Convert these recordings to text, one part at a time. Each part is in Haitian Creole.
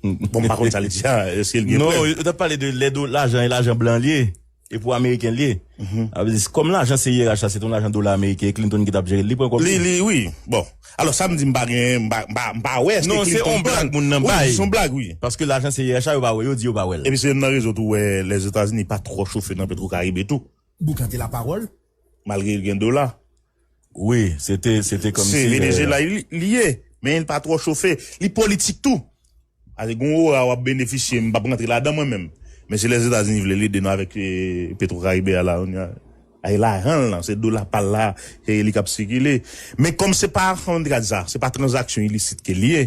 Bon m pa konn sa li di a eske l gen prèv. Non yo tap pale de lè do lajan e lajan blan li ye e pou ameriken li ye. A vle di kòm lajan se IRH la se te yon lajan dola ameriken e Clinton ki tap jere l li pran kòb li. Li li wi bon alò sa m di m pa gen m pa m pa wè eske Clinton pran. Non se yon blag moun nan bay. Wi se yon blag wi. Paske lajan se IRH la yo pa wè yo di yo pa wè l. Epi se youn nan rezon tou wè Lèzetazini pa twò chofe nan petwokaribe tou. Boukan te laparòl. Malgre l gen dola. Wi, se te, se te kòmsi. Se Venezyela li ye, men li pa twò chofe. Li politik tou. Pase gen yon ora w ap benefisye, m pa p rantre ladan mwen menm. Men si Lèzetazini vle, l ede nou avèk Petwokaribe a la kounye a. Ay lajan l lan, se dola pa l la, se li k ap sikile. Men kòm se pa aksyon li te ka di sa, se pa tranzaksyon ilisit ke li ye,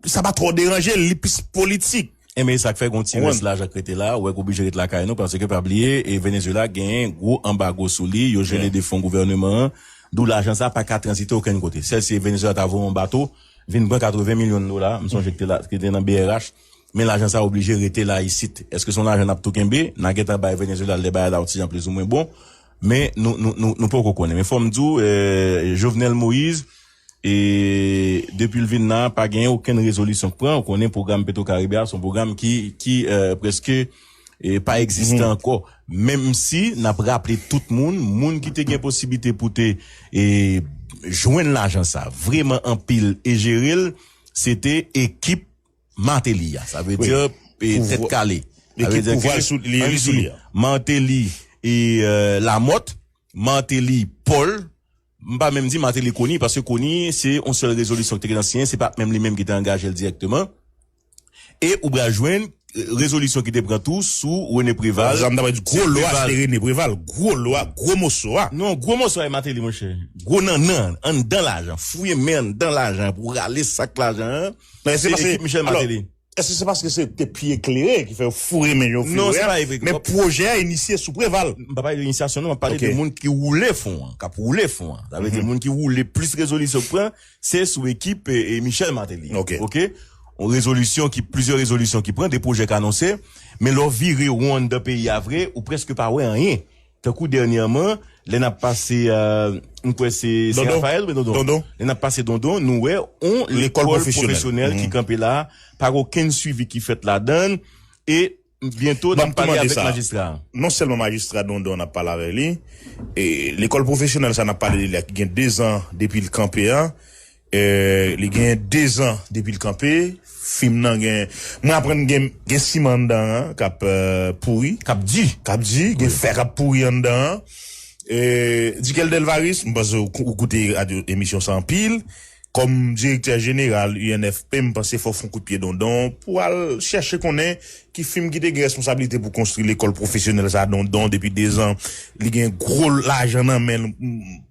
sa pa twò deranje l, li plis politik. Enben e sa k fè gen yon ti rès lajan k rete la, ou wè k oblije ret lakay nou paske pa bliye e Venezuela gen gwo anbago sou li, yo jele de fon gouvèneman an, dou lajan sa pa ka tranzite okenn kote. Sèl si Venezuela ta voye yon bato vin pran 80 milyon dola, m sonje ki te te nan brh, men lajan sa oblije rete la isit. Eske se yon lajan n ap tou kenbe? N a gentan bay Venezuela lè bagay la yon ti jan plizoumwen bon, men nou nou nou nou poko konnen. Men fò m di w Jovenel Moïse E depi l vin la, pa gen okenn rezolisyon k pran. Ou konnen pwogram Petwokaribe a, se yon pwogram ki prèske pa egziste ankò. Menm si n ap raple tout moun, moun ki te gen posiblite pou te jwenn lajan sa, vreman anpil e jere l, se te ekip Martelly a. Sa vle di tèt kale. Ekip pouvwa l sou li. Martelly, Lamothe, Martelly, Paul, M pa menm di Martelly koni, paske koni se yon sèl rezolisyon ki te gentan siyen, se pa menm li menm ki te angaje l dirèkteman. E ou pral jwenn rezolisyon ki te pran tou sou René Préval. Sa m ta pral di, gwo lwa se te René Préval, gwo lwa, gwo moso a. Non, gwo moso a e Martelly monchè. Gwo nannan an, anndan lajan, fouye men anndan lajan pou rale sak lajan an, se ekip Michel Martelly. Eske se paske se te pi eklere ki fè yo foure men yo pi lwen an? Men pwojè a inisye sou Preval. M pa pale de inisyasyon non, m ap pale de moun ki woule fon an, k ap woule fon an. Sa vle di moun ki woule plis rezolisyon k pran, se sou ekip Michel Martelly. Ok. Yon rezolisyon ki, plizyè rezolisyon ki pran, de pwojè k anonse, men lè w vire won anndan peyi a vre, ou prèske pa wè anyen. Tankou dènyèman, lè n ap pase, m kwè se Sen Rafayèl, wi Dondon, lè n ap pase Dondon, nou wè yon lekòl pwofesyonèl ki kanpe la a, pa gen okenn suivi ki fèt ladan l e byento n ap pale avèk majistra a. Non sèlman majistra Dondon n ap pale avèk li, lekòl pwofesyonèl sa a n ap pale de li a ki gen dezan depi l kanpe a, Li gen 2 zan depi l kanpe. Fim nan gen, mwen aprann gen siman anndan an k ap pouri. K ap di. K ap di, gen fè k ap pouri anndan an. Duckel Delvaris, m panse ou koute radyo emisyon sa anpil. Kòm direktè jeneral UNFP, m panse fò w fon kout pye dondon pou al chèche konnen Ki fim ki te gen responsablite pou konstri lekòl pwofesyonèl sa Dondon depi 2 zan li gen gwo lajan nan menl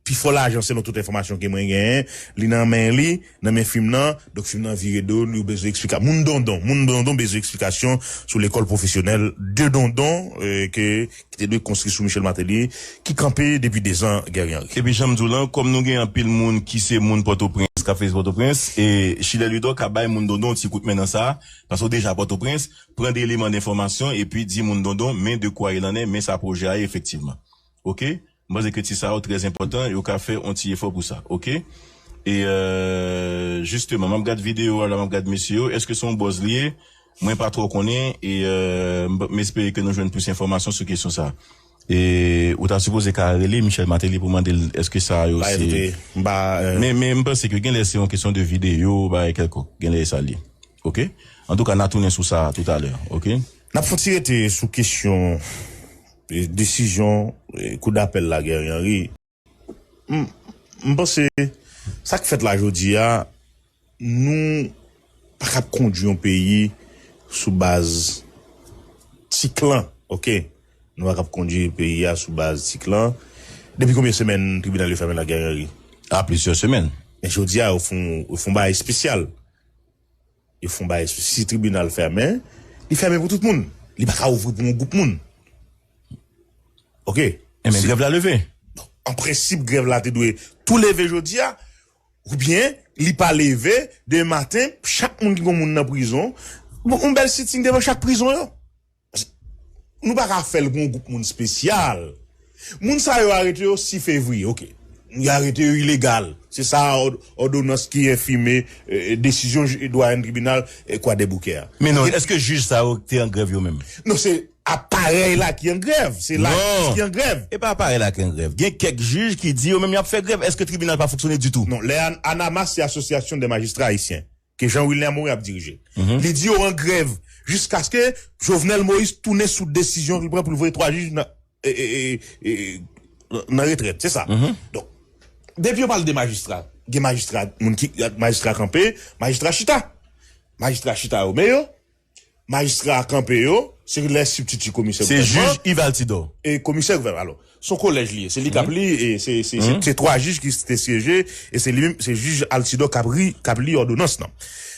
pi fò lajan selon tout enfòmasyon ke mwen genyen li nan men li nan men fim nan donk fim nan vire do li yo bezwen eksplika moun Dondon moun Dondon bezwen eksplikasyon sou lekòl pwofesyonèl de Dondon ke ki te dwe konstri sou Michel Martelly ki kanpe depi 2 zan Guerrier Henry. Epi janm diw lan kòm nou gen anpil moun ki se moun pòtoprens kap fè pòtoprens e Schiller Ludor ka bay moun Dondon yon ti kout men nan sa Pase w deja Pòtoprens, pran 2 eleman denfòmasyon epi di moun Dondon men de kwa il an è, men sa pwojè a ye efektivman. Ok? M panse ke ti sa yo trè enpòtan, yo ka fè on ti efò pou sa. Ok? E jisteman, m ap gad videyo a la, m ap gad mesye yo, èske se on bòz li ye? Mwen pa twò konnen e m espere ke nou jwenn plis enfòmasyon sou kesyon sa a. E ou ta sipoze ka rele Michel Martelly pou mande l eske sa yo se Men m panse ke genlè se yon kesyon de videyo bagay kèlkonk genlè e sa l ye ok antouka na tounen sou sa toutalè ok. N ap fon ti rete sou kesyon desizyon kou dapèl la Guerrier Henry. M panse sa k fèt la jodi a, nou pa kab kondui yon peyi sou baz ti klan ok, nou pa kab kondui peyi a sou baz ti klan. Depi konbyen semèn tribinal yo fèmen la Guerrieri? A plizyè semèn. Men jodi a yo fon bagay espesyal. Yo fon bagay sou si tribinal fèmen, li fèmen pou tout moun. Li pa ka ouvri pou yon gwoup moun. Ok. Enben grèv la leve. An prensip grèv la te dwe tou leve jodi a. Ou byen li pa leve, demen maten chak moun ki gon moun nan prizon, yon bèl sitting devan chak prizon yo. Nou pa ka fèl pou yon gwoup moun spesyal. Moun sa yo arete yo 6 fevriye ok. Yo arete yo ilegal. Se sa òdonans ki enfime desizyon dwayenn tribinal kwadèboukè a. Men non eske jij sa yo te an grèv yo menm? Non se aparèy la ki an grèv. Se lajistis ki an grèv. Non e pa aparèy la ki an grèv. Gen kèk jij ki di yo menm y ap fè grèv. Eske tribinal pa fonksyone ditou? Non lè anamas se asosyasyon dè majistra ayisyen. ke Jean Wilner Morin ap dirije. Li di yo an grèv jiskaske Jovenel Moïse tounen sou desizyon li pran pou li voye 3 jij nan nan retrèt. Se sa. Donk, depi yo pale de majistra, gen majistra, moun ki, majistra kanpe, majistra chita. Majistra chita yo men yo. Majistra a kanpe yo, se lè sibtiti komisè gouvènman. Se jij Yves Altidor. E komisè gouvènman. Alò, se yon kolèj li ye. Se li k ap li e se twa jij ki te syeje e se li menm, se jij Altidor k ap li òdonans lan.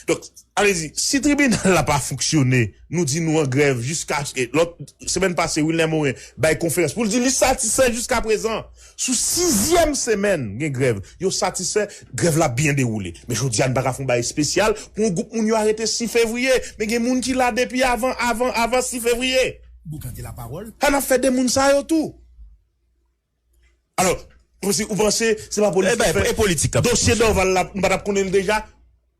Donk, sa vle di, si tribinal la pa fonksyone, nou di nou an grèv jiskaske, lòt, semèn pase Wilner Morin bay konferans pou l di li satisfè jiskaprezan Sou sizyèm semèn gen grèv, yo satisfè, grèv la byen dewoule. Men jodi a n pa ka fè yon bagay espesyal pou yon gwoup moun yo arete 6 fevriye. Men gen moun ki la depi avan, avan, avan 6 fevriye. Boukan gen lapawòl. Sa n ap fè de moun sa yo tou? Alò, ou panse se pa politik k ap fè? Dosye Dorval la, nou pa t ap konnen l deja?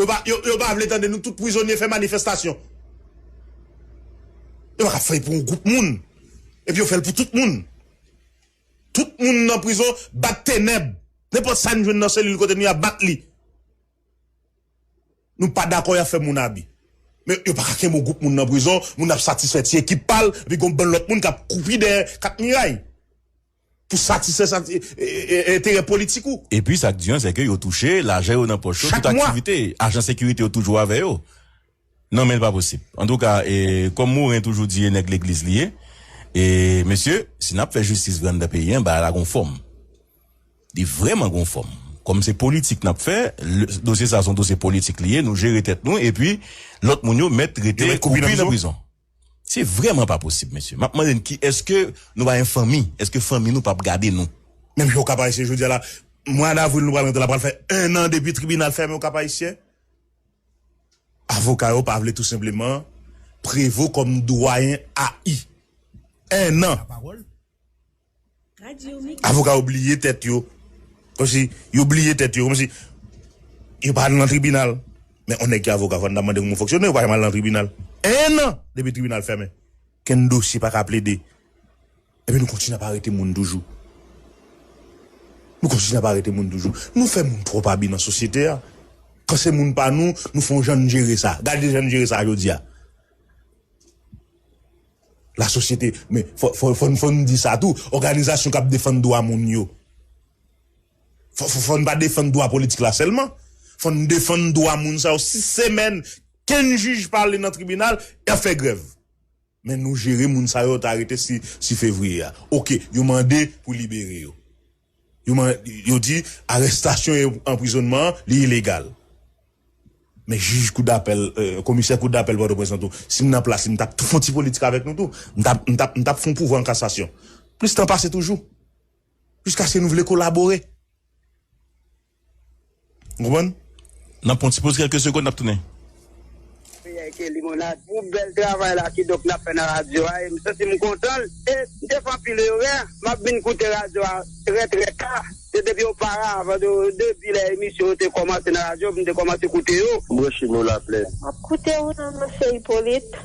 Yo pa vle tande nou tout prizonye fè manifestasyon. Yo pa ka fèl pou yon gwoup moun. Epi yo fèl pou tout moun. Tout moun nan prizon bat tenèb. Nenpòt sa n jwenn nan selil kote nou ya bat li. Nou pa dakò ya fè moun abi. Men yo pa ka kenbe yon gwoup moun nan prizon. Moun ap satisfè ti ekip pal. Epi gon bann lòt moun kap koupi dèyè kat miray. Pou satisfè enterè politik ou. Epi sa k di an sè ke yo touche, lajan yo nan pòch yo, tout aktivite, ajan sekirite yo toujou avè yo. Non men l pa posib. Antouka, kòm Moren toujou di e nèg legliz li ye, e mesye, si n ap fè jistis vre anndan peyi an, bagay la gon fòm. Li vrèman gon fòm. Kòm se politik n ap fè, dosye sa a se yon dosye politik li ye, nou jere tèt nou, epi lòt moun yo mèt rete kwoupi nan prizon. Se vreman pa posib mesye. Map mande n ki eske nou pa gen fanmi, eske fanmi nou pap gade nou. Menm jan Okap Ayisyen jodi a la mwa davril nou pral rantre la pral fè 1 an depi tribinal fèmen Okap Ayisyen. Avoka yo pa vle tou senpleman Prevo kòm dwayen AI. 1 an! Avoka yo bliye tèt yo, kòmsi yo bliye tèt yo, kòmsi yo pa al nan tribinal. Men on nèg ki avoka fò n ta mande kòman w fonksyone, ou pa janm al nan tribinal. 1 an depi tribinal fèmen, kenn dosye pa ka plede. Epi nou kontinye ap arete moun toujou. Nou kontinye ap arete moun toujou. Nou fè moun twòp abi nan sosyete a. Kan se moun pa nou, nou fè on jan n jere sa. Gade jan n jere sa jodi a. La sosyete, men, fò, fò, fò n di sa tou, òganizasyon k ap defann dwa moun yo, fò, fò, fò n pa defann dwa politik la sèlman. Fò n defann dwa moun sa yo. Si semèn, kenn jij pa ale nan tribinal, y ap fè grèv. Men nou jere moun sa yo yo te arete 6 fevriye a. Oke, yo mande pou libere yo. Yo di arestasyon e anprizonnman an li ilegal. Men jij kou dapèl, komisè kou dapèl Pòtoprens lan tou, si m nan plas li m tap fon ti politik avèk nou tou. M tap m tap fon pouvwa an kasasyon. Plis tan pase toujou. Jiskaske nou vle kolabore. Ou konprann? Nap pran yon ti poz kelke segond nap tounen. Peyay ke limonad pou bèl travay la kidonk nap fè nan radyo a em santim kontan e mte fè anpil erè map vin koute radyo a trè trè ta se depi oparavan de depi lè emisyon yo te kòmanse nan radyo mte kòmanse koute yo. Branche nou la plen. Map koute ou nan Monsieur Hyppolite.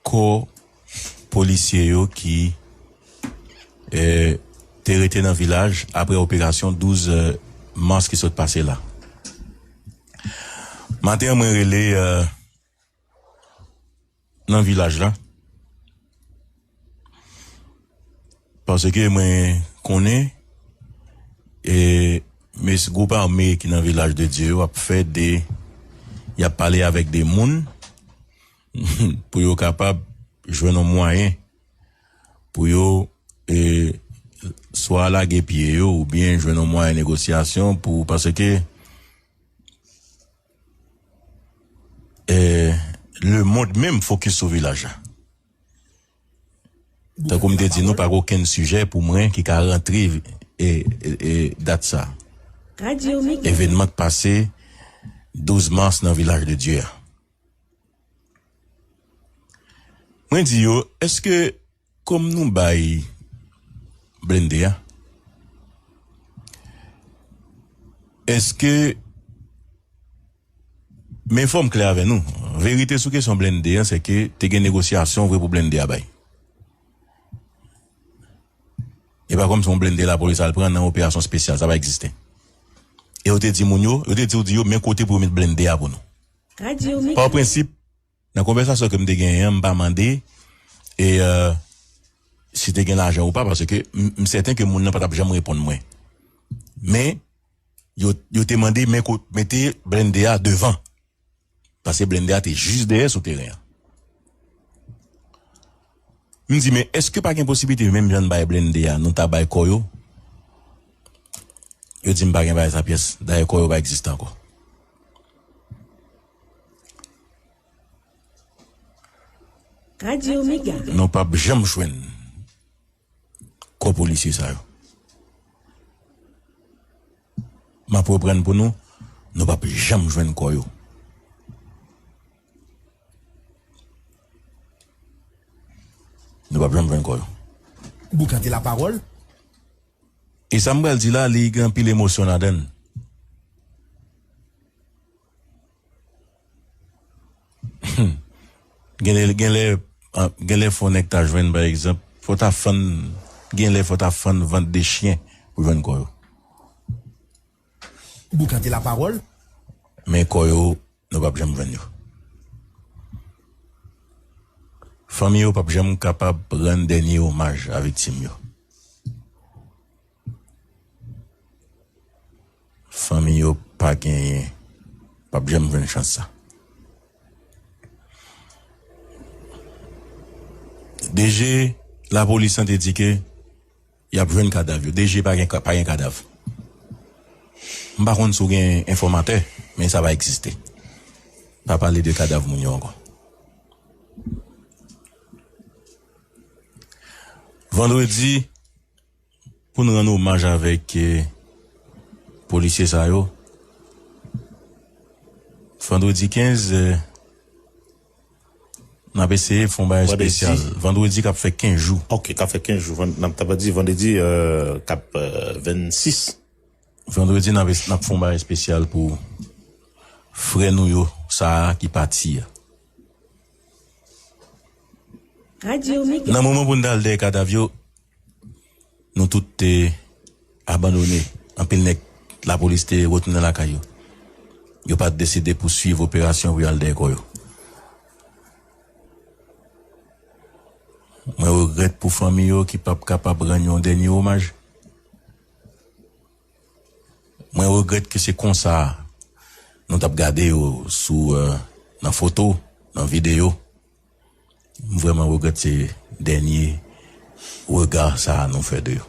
Kò polisye yo ki te rete nan vilaj apre operasyon 12 mas ki sot pase la. Maten an mwen rele nan vilaj la paske mwen konnen mes gwoup ame ki nan vilaj de Dye yo ap fè de y ap pale avèk de moun pou yo kapab jwenn yon mwayen pou yo swa lage pye yo oubyen jwenn yon mwayen negosyasyon pou paske le mond menm fokis sou vilaj la tankou m te di nou pa gen okenn sijè pou mwen ki ka rantre dat sa evenman k pase 12 mars nan vilaj de Dye a. Mwen di yo eske kom nou bay blende a eske men fom kle ave nou verite sou kesyon blende a se ke te gen negosyasyon vre pou blende a bay e pa kom son blende la polis al pran nan operasyon spesyal sa pa egziste e yo te di moun yo yo te di yo men kote pou yo met blende a pou nou. Pa prensip, nan konvèsasyon ke m te genyen an, m pa mande e si te gen lajan ou pa paske m sèten ke moun nan pa t ap janm reponn mwen. Men, yo te mande men kot mete blennde a devan. Pase blennde a te jis dèyè sou teren an. M di men eske pa gen posiblite menm jan n bay blennde a nou ta bay kò yo? Yo di m pa gen bagay sa pyès, dayè kò yo pa egziste ankò. Nou pap janm jwenn kò polisye sa yo. Map reprann pou nou, nou pap janm jwenn kò yo. Nou pap janm jwenn kò yo. Boukante la pawòl. E sa m pral di la li gen anpil emosyon ladan l. Humm genlè genlè fò nèg ta jwenn pa egzanp fò ta fann genlè fò ta fann vant 2 chyen pou jwenn kò yo. Boukante la parol men kò yo nou pap janm jwenn yo fanmi yo pap janm kapab rann dènye omaj a viktim yo fanmi yo pa genyen pap janm jwenn chans sa DG lapolis lan te di ke. Yap jwenn kadav yo. DG pa gen pa gen kadav. M pa konn si w gen enfòmatè, men sa pa egziste. Pa pale de kadav moun yo ankò. Vandredi pou n rann omaj avèk polisye sa yo. Vandredi 15. N ap eseye fè yon bagay espesyal vandredi k ap fè 15 jou. Ok, k ap fè 15 jou. N ap di vandredi k ap 26. Vandredi n ap fè yon bagay espesyal pou frè nou yo sa a ki pati a. Nan moman pou n ta al dèyè kadav yo. Nou tout te abandone. Anpil nèg lapolis te retounen lakay yo. Yo pa t deside pouswiv operasyon pou y al dèyè kò yo. Mwen regrèt pou fanmi yo ki pa p kapab rann yon dènye omaj. Mwen regrèt ke se konsa nou t ap gade yo sou nan foto, nan videyo. M vrèman regrèt se dènye rega sa a nou fè de yo.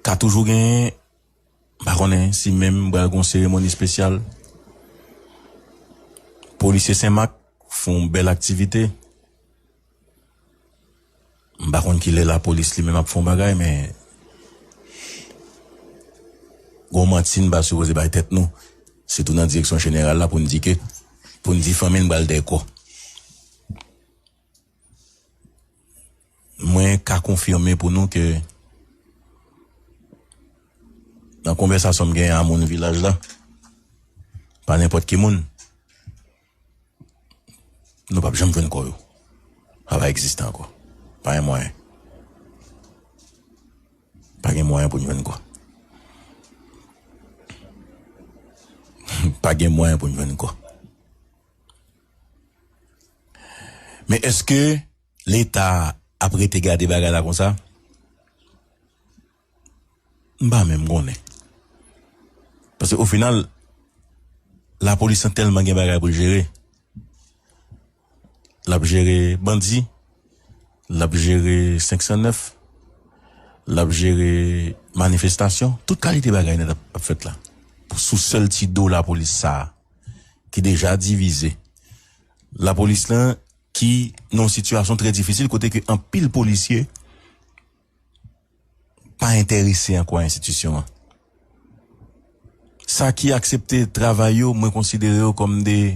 Ka toujou genyen, m pa konnen si menm pral gon seremoni spesyal. Polisye Senmak fè yon bèl aktivite. M pa konn kilè lapolis li menm ap fon bagay men gon manti n pa sipoze bay tèt nou sitou nan direksyon jeneral la pou n di ke pou n di fanmi n pral dèy kò mwen ka konfime pou nou ke nan konvèsasyon m genyen a moun vilaj la pa nenpòt ki moun. Nou pap janm jwenn kò yo. Sa pa egziste ankò. Pa gen mwayen. Pa gen mwayen pou n jwenn kò. Pa gen mwayen pou n jwenn kò. Men eske leta ap rete gade bagay la konsa? M pa menm konnen. Paske o final lapolis lan tèlman gen bagay pou l jere. L ap jere bandi, l ap jere 509, l ap jere manifestasyon. Tout kalite bagay nèt ap fèt la. Sou sèl ti do lapolis sa a ki deja divize. Lapolis lan ki nan yon sitiyasyon trè difisil kote ke anpil polisye. pa entèrese ankò a enstitisyon an. Sa ki aksepte travay yo, mwen konsidere yo kòm de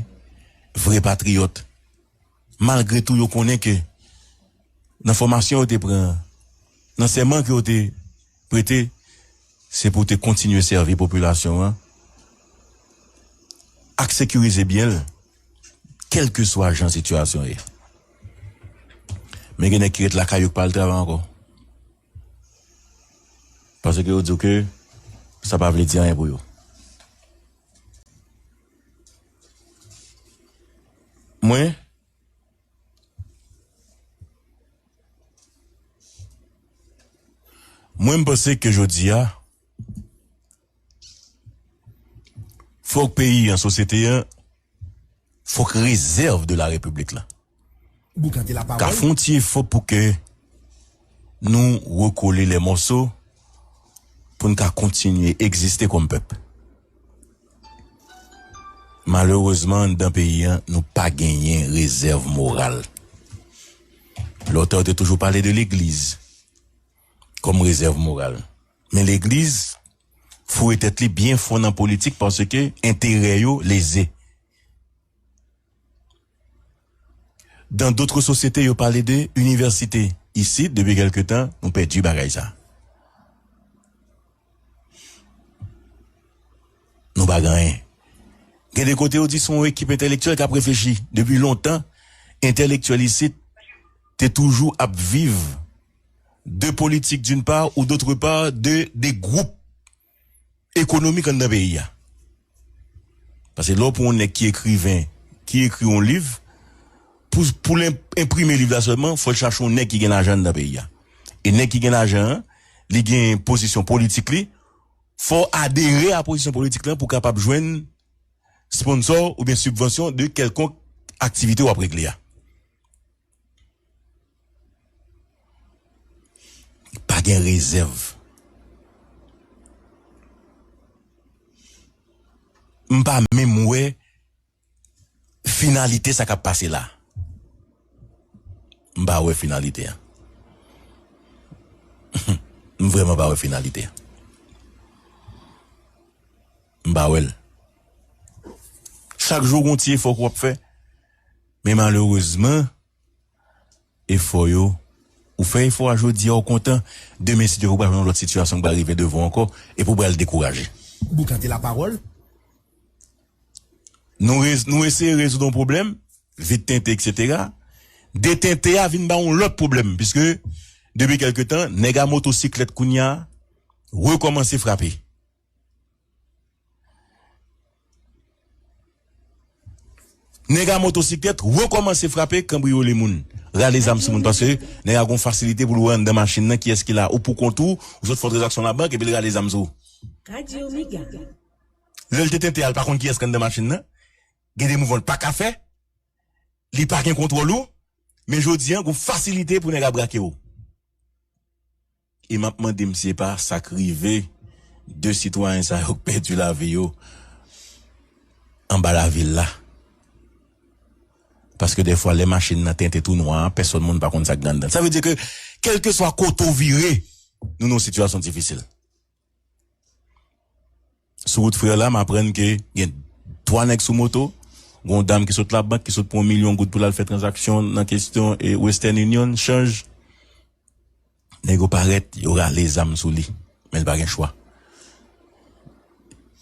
vre patriyòt. Malgre tou yo konnen ke nan fòmasyon yo te pran an, nan sèman ke yo te prete, se pou te kontinye sèvi popilasyon an ak sekirize byen l. Kèlkeswa jan sitiyasyon ye. Men gen nèg ki ret lakay yo ki pa al travay ankò. Paske yo di w ke sa pa vle di anyen pou yo. Mwen Mwen m panse ke jodi a. Fòk peyi an, sosyete an, fòk rezèv de la Repiblik la ka fon ti efò pou ke nou rekole lè mòso pou n ka kontinye egziste kòm pèp. Malerezman anndan peyi an nou pa genyen rezèv moral. Lòtè yo te toujou pale de legliz kòm rezèv moral. Men legliz foure tèt li byen fon nan politik paske enterè yo leze. Dan dotre sosyete yo pale de inivèsite. Isit depi kèlke tan nou pèdi bagay sa. Nou pa gen anyen. Gen de kote yo di son ekip entelektyèl kap reflechi. Depi lontan entelektyèl isit te toujou ap viv de politik d'une part ou d'autre part de de gwoup ekonomik anndan peyi a. Pase lè w pran yon nèg ki ekriven, ki ekri yon liv, pou pou l enprime liv la sèlman, fò l chache yon nèg ki gen lajan anndan peyi a. E nèg ki gen lajan an, li gen pozisyon politik li, fò w adere a pozisyon politik lan pou w kapab jwenn sponsò oubyen sibvansyon de kèlkonk aktivite w ap regle a. Pa gen rezèv. M pa menm wè finalite sa k ap pase la. M pa wè finalite an. M vrèman pa wè finalite an. M pa wè l. Chak jou gen yon ti efò ke w ap fè. Men malerezman efò yo ou fè efò a jodi a ou kontan demen si Dye vle ou pral nan yon lòt sitiyasyon ki pral rive devan w ankò epi ou pral dekouraje. Boukan te lapawòl. Nou rez nou eseye rezoud yon pwoblèm vit tente eksetera de tente a vin ba w yon lòt pwoblèm piske depi kèlke tan nèg a motosiklèt kounye a rekòmanse frape. Nèg a motosiklèt rekòmanse frape, kanbriyole moun, rale zam sou moun paske nèg a gen yon fasilite pou l wè anndan machin nan kiyès ki la ou poukont ou, ou sot fè yon tranzaksyon labank epi l rale zam sou ou. Lè l te tente a l pa konn kiyès ki anndan machin nan, gen de mouvman l pa ka fè, li pa gen kontwòl ou men jodi a gen yon fasilite pou nèg a brake ou. E map mande m si se pa sak rive 2 sitwayen sa yo k pèdi lavi yo anba lavil la. Paske dèfwa lè machin nan tente tou nwa a pèsòn moun pa konn sak gen anndan l. Sa vle di ke kèlkeswa kote ou vire nou nan yon sitiyasyon difisil. Sou wout frè la, m aprann ke gen 3 nèg sou moto, gen yon dam ki sot labank, ki sot pran yon milyon goud pou l al fè tranzaksyon nan kesyon Western Union, chanj. Nèg yo parèt, yo rale zam sou li, men l pa gen chwa.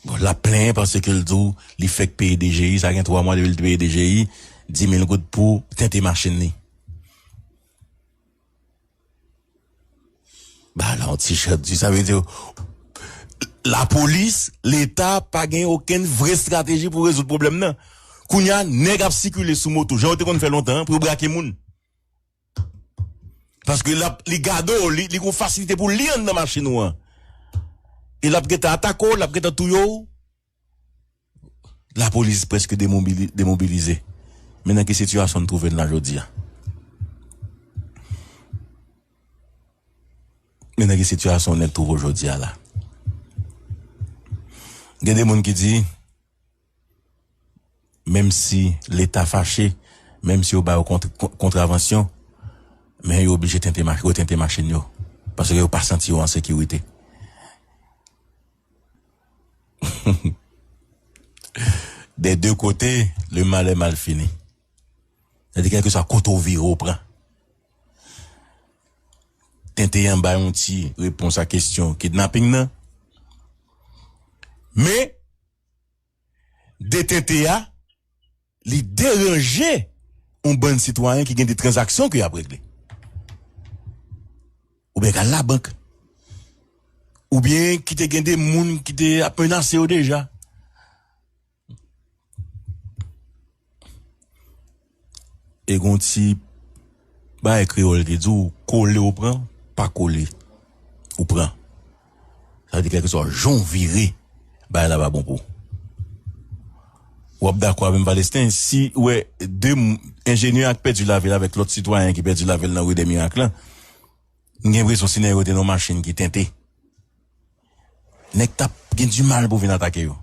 Bon, l ap plenyen paske l di w li fèk peye DGI, sa gen 3 mwa depi l te peye DGI, 10 mil goud pou tente machin li. Ba la yon ti chat di sa vle di la polis, leta pa gen okenn vre strateji pou rezoud pwoblèm nan. Kounye a nèg ap sikile sou moto jan yo te konn fè lontan an pou yo brake moun. Paske l ap li gade w, li gen yon fasilite pou l li anndan machin ou an. E l ap gentan atake w, l ap gentan touye w. Lapolis prèske demobilize, men nan ki sitiyasyon n twouve n la jodi a? Men nan ki sitiyasyon nèg twouve w jodi a la? Gen de moun ki di, menm si Leta fache, menm si yo ba yo kontravansyon, men yo oblije tente, retente machin yo, paske yo pa santi yo an sekirite. Des deux côtés, le mal est mal fini. Sa di kelkeswa kote w vire w pran. Tenten an bay yon ti repons a kesyon kidnaping nan. Men. detente a li deranje yon bann sitwayen ki gen de tranzaksyon ke y ap regle. Ou byen ka al labank. Ou byen ki te gen de moun ki te ap menase yo deja. E gon ti Bagay kreyòl ki di ou kole ou pran pa kole ou pran sa vle di kèlkeswa jan ou vire bagay la pa bon pou ou wap dakò avèm Valesten si ou wè 2 enjenyè ak pèdi lavi l avèk lòt sitwayen ki pèdi lavi l nan ri dè mirak lan m gen enpresyon si nèg yo te nan yon machin ki tente. nèg tap gen du mal pou vin atake yo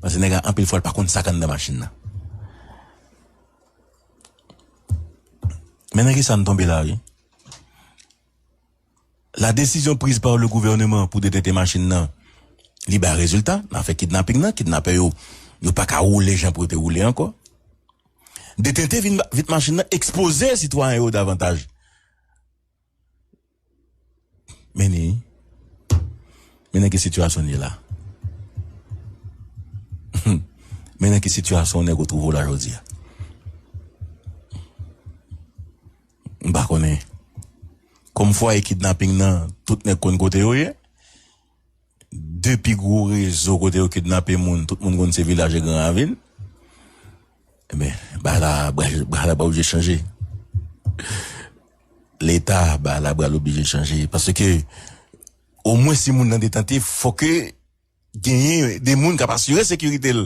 paske nèg la anpil fwa li pa konn sak anndan machin nan men nan kisa nou tonbe la wi la desizyon priz par le gouvèneman pou detente machin nan li bay rezilta nan afè kidnaping nan kidnapè yo yo paka woule jan pou yo te woule ankò detente vit machin nan ekspoze sitwayen yo davantaj. Meni, men nan ki sitiyasyon n ye la. Men nan ki sitiyasyon nèg ou twouve w la jodi a. M pa konnen. Kòm fwaye kidnaping nan, tout nèg konn kote yo ye. 2 pi gwo rezo kote yo kidnape moun, tout moun konn se vilaj e gran ravin. Ebyen, bagay la, bagay la pral oblije chanje. Leta, bagay la pral oblije chanje. Paske, omwen si moun nan detente, fò ke genyen de moun k ap asire sekirite l.